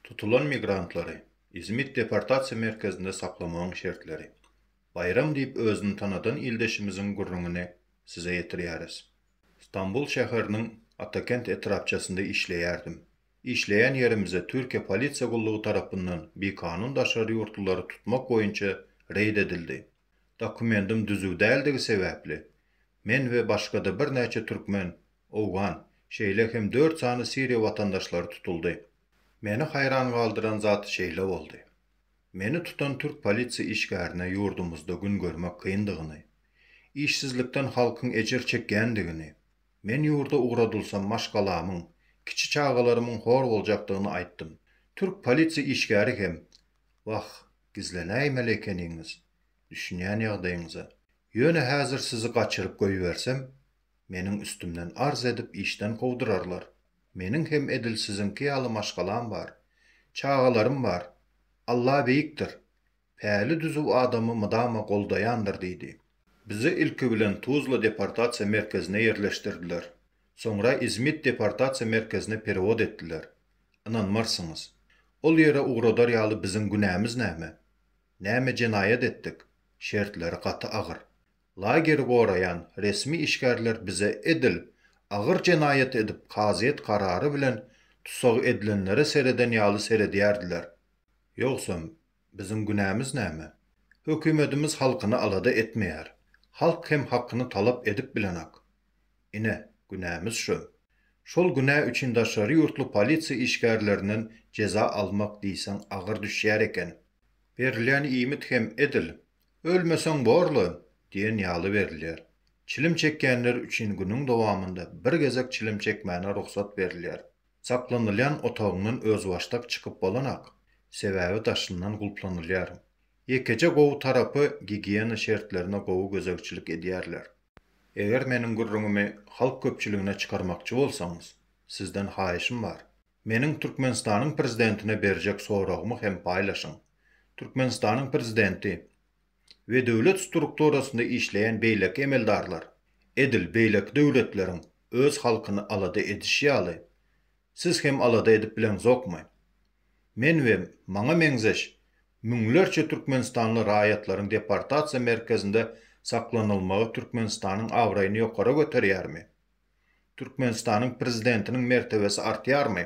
Tutulan migrantlary Izmit deportasiýa merkezinde saklamagyň şertleri. Baýram diýip özüni tanadan ildeşimiziň gürrüňini size ýetirýäris. Stambul şäheriniň Atakent etrapçasynda işleýärdim. Işleýän ýerimize Türkiýe polisiýa gullugy tarapyndan bikanun daşary ýurtlulary tutmak boýunça reýd edildi. Dokumentim düzüw däldigi sebäpli, men we başga-da birnäçe türkmen, owgan, şeýle hem dört sany Siriýa watandaşlary tutuldy. Meni haýran galdyran zat şeýle boldy. Meni tutan türk polisiýa işgärine ýurdumyzda gün görmek kyndygyny, işsizlikden halkyň ejir çekýändigini, men ýurda ugradylsam maşgalamyň, kiçi çagalarymyň hor boljakdygyny aýtdym. Türk polisiýa işgäri hem, Wah, Gizlenäýmeli ekeniňiz, düşünýän ýagdaýyňyza. Ýöne häzir sizi gaçyryp goýbersem, meniň üstümden arz edip işden kowdurarlar. Meniň hem edil siziňki ýaly maşgalam bar. Çagalarym bar. Alla beýikdir. Päli-düzüw adamy mydama goldaýandyr diýdi. Bizi ilki bilen Tuzla deportasiýa merkezine ýerleşdirdiler. Soňra Izmit deportasiýa merkezine perewod etdiler. Ynanmarsyňyz. Ol ýere ugradar ýaly biziň günämiz näme? Näme jenaýat etdik? Şertleri gaty agyr. Lageri goraýan resmi işgärler bize edil agyr jenaýat edip kazyýet karary bilen tussag edilenlere sereden ýaly seredýärdiler. Ýogsam, Biziň günämiz näme? Hökümetimiz halkyny alada etmeýär. Halk hem hakyny talap edip bilenak. Ine, günämiz şu. Şol günä üçin daşary ýurtly polisiýa işgärlerinden jeza almak diýseň agyr düşýär eken. Berilýän iýmit hem edil, Ölmeseň bor-la! diýen ýaly berilýär. Çilim çekýänler üçin günüň dowamynda bir gezek çilim çekmäne rugsat berilýär. Saklanylýan otagyňdan özbaşdak çykyp bolanak, sebäbi daşyndan gulplanylýar. Ýekeje gowy tarapy gigiýena şertlerine gowy gözegçilik edýärler. Eger meniň gürrüňimi halk köpçüligine çykarmakçy bolsaňyz, sizden haýyşym bar. Meniň Türkmenistanyň prezidentine berjek soragymy hem paýlaşyň. Türkmenistanyň prezidenti we döwlet strukturasynda işleýän beýleki emeldarlar edil beýleki döwletleriň öz halkyny alada edişi ýaly, siz hem alada edip bileňzokmy? Men we maňa meňzeş müňlerçe türkmenistanly raýatlaryň deportasiýa merkezinde saklanylmagy Türkmenistanyň abraýyny ýokara göterýärmi? Türkmenistanyň prezidentiniň mertebesi artýarmy?